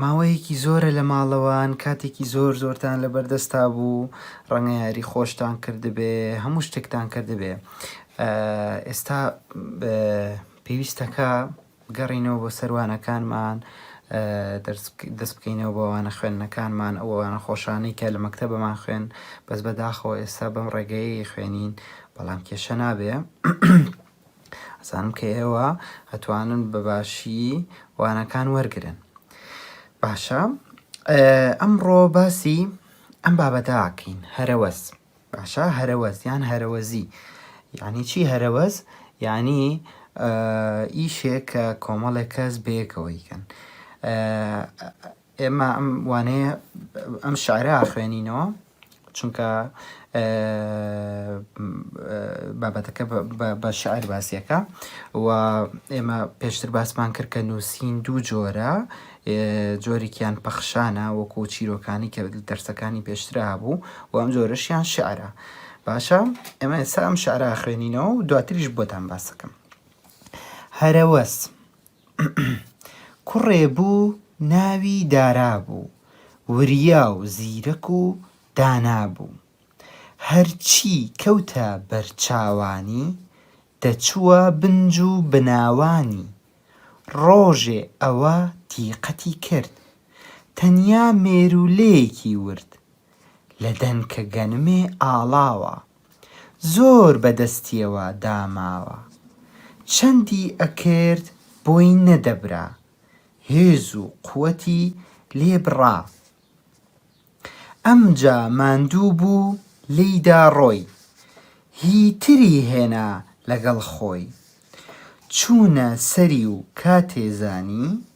ماوەیەکی زۆرە لە ماڵەوان، کاتێکی زۆر زۆرتان لەبەردەستا بوو، ڕەنگە یاری خۆشتان کردبێ، هەموو شتێکتان کردبێ. ئێستا پێویستە کە بگەڕێینەوە بۆ سەر وانەکانمان، دەست بکەینەوە بە وانە خوێندنەکانمان، ئەو وانە خۆشانەی کە لە مەکتەبەمان خوێند، بەس بەداخەوە ئێستا بەم ڕێگەیەی خوێنین، بەڵام کێشە نابێ. ئەزانم کە ئێوە ئەتوانن بە باشی وانەکان وەرگرن باشە ئەمڕۆ باسی ئەم بابەتاکەین هەرەوەز باشە هەرەوەز یان هەرەوەزی یعنی چی هەرەوەز یعنی ئیشێک کە کۆمەڵێک کەس بەیەکەوەیکەن ئێمە ئەم وانەیە ئەم شعرە ئاخوێنینەوە چونکە بابەتەکە بە شعر باسیەکە و ئێمە پێشتر باسمان کرد کە نووسین دوو جۆرە جۆرێکیان پەخشانە وەکو چیرۆکانی کە دەرسەکانی پێشترا هەبوو و ئەم جۆرەشیان شعرە باشە ئێمە ئێستا ئەم شعرا خوێنینەوە و دواتریش بۆتان باسەکەم هەرەوەس کوڕێ بوو ناوی دارا بوو وریا و زیرەک و دانا بوو هەرچی کەوتە بەر چاوانی دەچووە بنج و بناوانی ڕۆژێ ئەوە دیقەتی کرد تەنیا مێروولەیەکی ورد لە دەنکە گەنمێ ئاڵاوە زۆر بە دەستیەوە داماوە چەندی ئەکرد بۆی نەدەبرا هێز و قوەتی لێ بڕا ئەمجا ماندوو بوو لێی دا ڕۆی هی تری هێنا لەگەڵ خۆی چوونە سەری و کاتێ زانی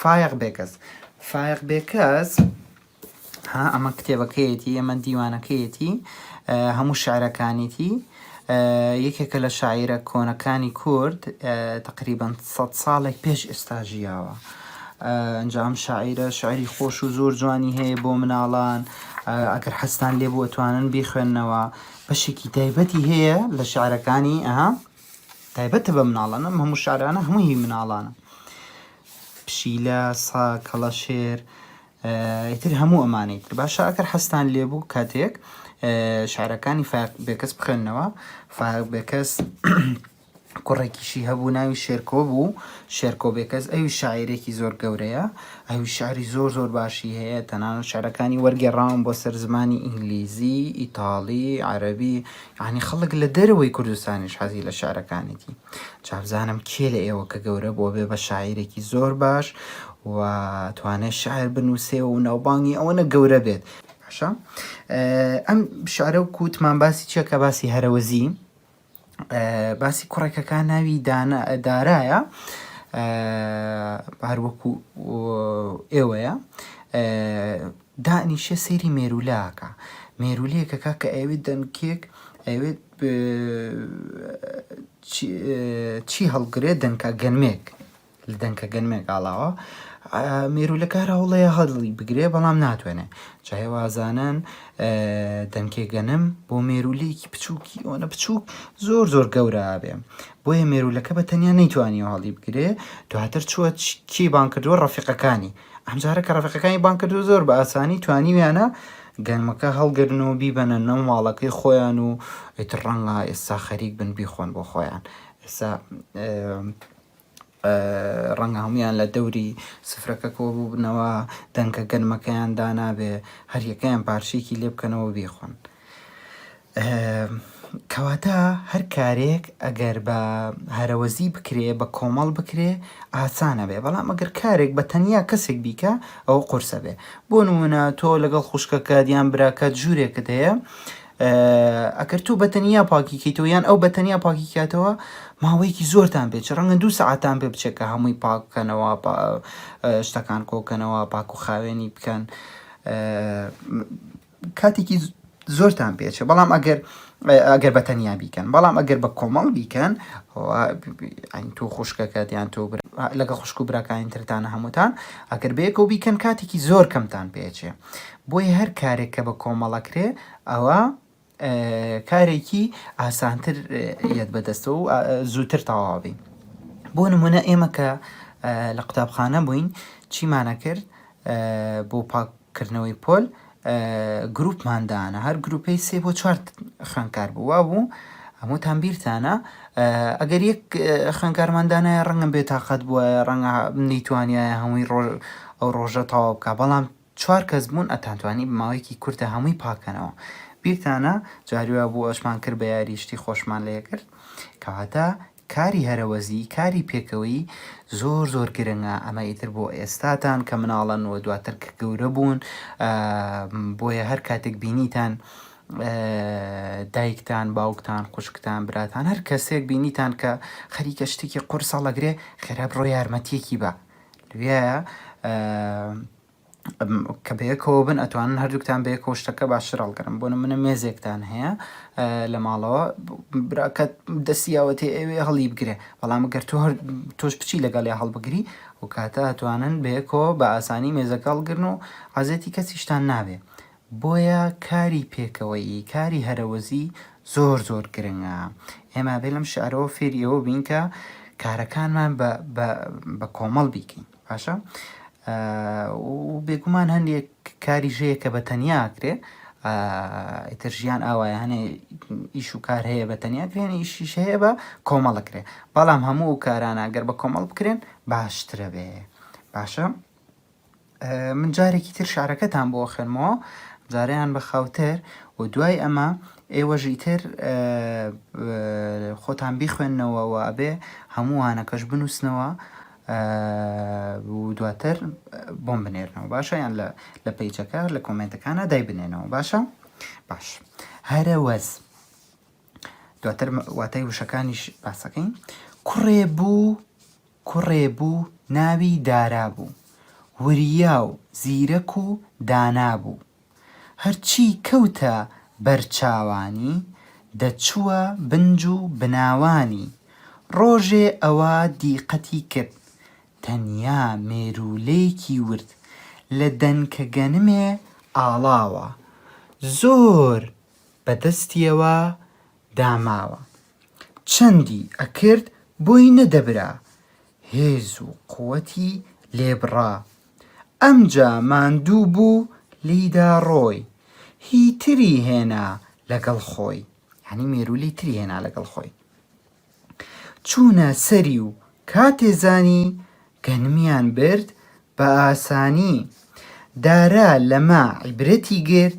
فایەق بێکەس فایەق بێکەس ها ئەمە کتێبەکەیەتی ئەمە دیوانەکەیەتی هەموو شعرەکانیتی یەکێکە لە شاعیرە کۆنەکانی کورد تقریبان 100 ساڵێک پێش ئێستا ژیاوە ئەنجام شاعیرە شعری خۆش و زۆر جوانی هەیە بۆ مناڵان ئەگەر حەستان لێ بووە توانن بیخوێندنەوە بەشێکی تایبەتی هەیە لە شعرەکانی ئەها تایبەتە بە مناڵان ئەم هەموو شارانە هەموو هی مناڵانە پشیلە سا کەڵەشێر ئیتر هەموو ئەمانەی تر باشە ئەگەر حەستان لێبوو کاتێک شارەکانی فاق بێکەس بخوێندنەوە فاق بێکەس کوڕێکیشی هەبوو ناوی شێرکۆ بوو شێرکۆ بێکەس ئەوی شاعیرێکی زۆر گەورەیە ئەوی شاری زۆر زۆر باشی هەیە تەنان و شارەکانی وەرگێڕاون بۆ سەر زمانی ئینگلیزی ئیتاڵی عەربی یانی خەڵک لە دەرەوەی کوردستانیش حەزی لە شعرەکانیتی جا بزانم کێ لە ئێوە کە گەورە بووە بێ بە شاعیرێکی زۆر باش و توانێ شعر بنووسێ و ناوبانگی ئەوەنە گەورە بێت باشە ئەم شعرە و کووتمان باسی چیەکە باسی هەرەوەزی باسی کوڕێکەکان ناوی دارایە هەروەکو ئێوەیە دائنیشێ سەیری مێروولە ئەکا مێروولەیەک ئەکا کە ئەیەوێت دەنکێک ئەیەوێت چی هەڵگرێت دەنکە گەنمێک لە دەنکە گەنمێک ئاڵاوە مێروولەکە هەر هەوڵەیە هەڵی بگرێ بەڵام ناتوانێ جاهێ وازانن دەنکێ گەنم بۆ مێروولەیەکی بچووکی ئەوەنە بچووک زۆر زۆر گەورابێ بۆیە مێروولەکە بە تەنیا نەیتوانی هەڵی بگرێ دواتر چووە کی بانکردووە ڕەفیقەکانی ئەمجارە کە ڕەفەقەکانی بان کرد و زۆر بە ئاسانی توانیویانە گەنمەکە هەڵگرن و بیبەنە نەو ماڵەکەی خۆیان و ئیتر ڕەنگە ئێستا خەریک بن بیخۆن بۆ خۆیان ئێستا ڕەنگە هەمویان لە دەوری سفرەکە کۆ بووبنەوە دەنکە گەنمەکەیان دانابێ هەریەکەیان پارچێکی لێ بکەنەوە بیخۆن کەواتە هەر کارێک ئەگەر بە هەرەوەزی بکرێ بە کۆمەڵ بکرێ ئاسانە بێ بەڵام ئەگەر کارێک بە تەنیا کەسێک بیکە ئەوە قورسە بێ بۆ نمونە تۆ لەگەڵ خوشکەکە دیان براکەت ژوورێکت هەیە ئەکرد تو بەتەنیا پاکیکەیتەوە یان ئەو بەتەنیا پاکیکاتەوە ماوەیەکی زۆرتان پێچ ڕەنگە دوو سەعاتان پێ بچێکە هەمووی پاککەنەوە شتەکان کۆکەنەوە پاک و خاوێنی بکەن کاتێکی زۆرتان پێچێ بەڵام ئەگەر ئەگەر بە تەنیا بیکەن بەڵام ئەگەر بە کۆمەڵ بیکەن ئەین تۆ خوشکەکەت یان تۆ لەگە خوشک و براکانی ترتانە هەمووتان ئەگەر بەیەکەوە بیکەن کاتێکی زۆر کەمتان پێچێ بۆی هەر کارێک کە بە کۆمەڵەکرێ ئەوە کارێکی ئاسانتر یەت بەدەستەوە و زووتر تەواوبین بۆ نمونە ئێمە کە لە قوتابخانە بووین چیمانە کرد بۆ پاک کردنەوەی پۆل گروپمان دانا هەر گروپەی سێ بۆ چوار خوێندکار بوو وا بوو هەمووتان بیرتانە ئەگەر یەک خوێندکارمان دانایە ڕەنگە بێتاقەت بووە ڕەنگە نەیتوانایە هەمووی ڕۆژ ئەو ڕۆژە تەواو بکە بەڵام چوار کەس بوون ئەتانتوانی ماوەیەکی کورتە هەمووی پاکەنەوە بیرتانە جاروە بوو ئەشمان کرد بە یاریشتی خۆشمان لێکرد کەواتە کاری هەرەوەزی کاری پێکەوەیی زۆر زۆر گرنگە ئەمە ئیتر بۆ ئێستاتان کە مناڵن و دواتر کە گەورە بوون بۆیە هەر کاتێک بینیتان دایکتان باوکتان خوشکتان براتان هەر کەسێک بینیتان کە خەریکە شتێکی قورسەڵەگرێ خێرا بڕۆ یارمەتیەکی بە لێە کە بەیەکەوە بن ئەتوانن هەردووکتان بەیەکەوە شتەکە باشتر هەڵگرن بۆ نمونە مێزێکتان هەیە لە ماڵەوە براکە دەستیاوەتێ ئەوێ هەڵی بگرێ بەڵام گەر تۆ هەر تۆش بچی لەگەڵی هەڵبگری و کاتە ئەتوانن بەیەکەوە بە ئاسانی مێزەکە هەڵگرن و عزێتی کەسیشتان نابێ بۆیە کاری پێکەوەیی کاری هەرەوەزی زۆر زۆر گرنگە ئێمە بێ لەم شعرەوە فێریەوە بین کە کارەکانمان بە کۆمەڵ بیکەین باشە و بێگومان هەندێک کاری ژەیە کە بە تەنیا کرێ ئیتر ژیان ئاوایە هەنێ ئیش و کار هەیە بە تەنیا کرێن ئیشیش هەیە بە کۆمەڵە کرێ بەڵام هەموو و کارانە گەر بە کۆمەڵ بکرێن باشترە بێ باشە من جارێکی تر شارەکەتان بۆ خوێنمەوە جاریان بە خاوتر و دوای ئەمە ئێوەژی تر خۆتان بیخوێندنەوە و ئەبێ هەمووانەکەش بنووسنەوە و دواتر بۆم بنێرنەوە باشە یان لە لە پیچەکە لە کۆمنتەکانە دای بنێنەوە باشە باش هەرە وەز دواتر واتای وشەکانیش باسەکەین کوڕێ بوو کوڕێ بوو ناوی دارا بوو وریا و زیرەک و دانا بوو هەرچی کەوتە بەر چاوانی، دەچووە بنج و بناوانی. ڕۆژێ ئەوە دیقەتی کرد، تەنیا مێروولێکی ورد، لە دەنکە گەنمێ ئاڵاوە، زۆر بە دەستیەوە داماوە. چەندی ئەکرد بۆی نەدەبرا، هێز و قوتی لێ بڕا ئەمجا ماندوو بوو لیدا ڕۆی هی تری هێنا لەگەڵ خۆی یانی مێرولی تری هێنا لەگەڵ خۆی چوونە سەری و کاتێ زانی گەنمیان برد بە ئاسانی دارا لەمە عیبرەتی گرت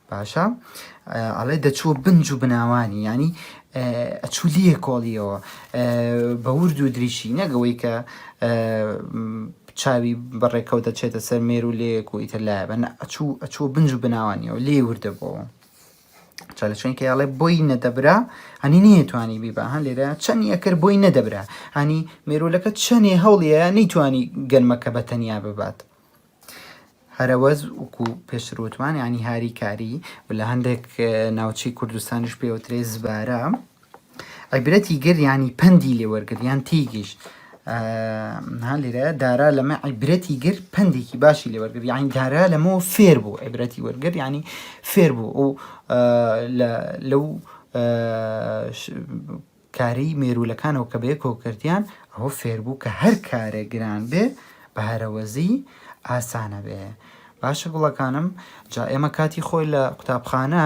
باشە ئەڵێ دەچووە بن جوو بناوانی یانی ئەچوو لێ کۆڵیەوە بە ورد و دریشی نەگەوەی کە چاوی بەڕێکەوت دەچێتە سەر مێر و لێک و ئیتر لایە بە ئەچوو ئەچوو بنج و بناوانیەوە لێ وردە بۆەوە چا لە چۆن کەیاڵێ بۆی نەدەبرا هەنی نەیەتوانی بیبا هەن لێرە چەند یەکرد بۆی نەدەبرا هەنی مێرولەکە چەندێ هەوڵیە نەیتوانی گەرمەکە بە تەنیا ببات هەرەوەز وکو پێشتر وتمان ینی هاری کاری و لە هەندێک ناوچەی کوردستانش پێوترێ زبارە عیبرەتی گر ینی پەندی لێ وەرگر یان تیگیشت ها لێرە دارا لەمە عیبرەتی گر پندێکی باشی لێ وەرگر یعنی دارا لەمەوە فێر بوو عیبرەتی وەرگر ینی فێر بوو ئەو لەو کارەیی مێروولەکانەوە کە بەیەکەوە کردیان، ئەوە فێربوو کە هەر کارێک گران بێ بە هەرەوەزی ئاسانە بێ. باشە گوڵەکانم جا ئێمە کاتی خۆی لە قوتابخانە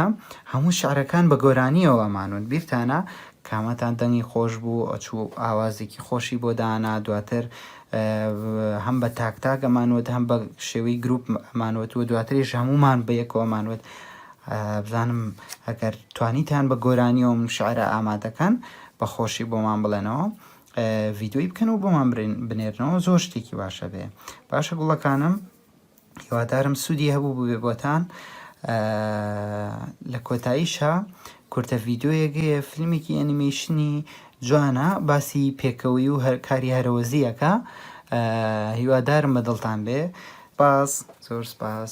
هەموو شعرەکان بە گۆرانیەوە ئەمانوت بیرتانە کامەتان دەنگی خۆش بوو ئەچوو ئاوازێکی خۆشی بۆ دانا دواتر هەم بە تاک تاک ئەمانوت هەم بە شێوەی گروپ ئەمانوت و دواتریش هەمومان بە یەکەوە ئەمانوت بزانم ئەگەر توانیتان بە گۆرانیەوە ئەم شعرە ئامادەکەن بە خۆشی بۆمان بڵێنەوە ڤیدۆی بکەن و بۆمان بنێرنەوە زۆر شتێکی باشە بێ باشە گوڵەکانم هیوادارم سوودی هەبوو ببێ بۆتان لە کۆتاییشە کورتە ڤیدۆیەگەیە فیلمێکی ئەنیمەیشنی جوانە باسی پێکەوەی و هەر کاری هەرەوەزیەکە هیوادارم بە دڵتان بێ باس زۆر سپاس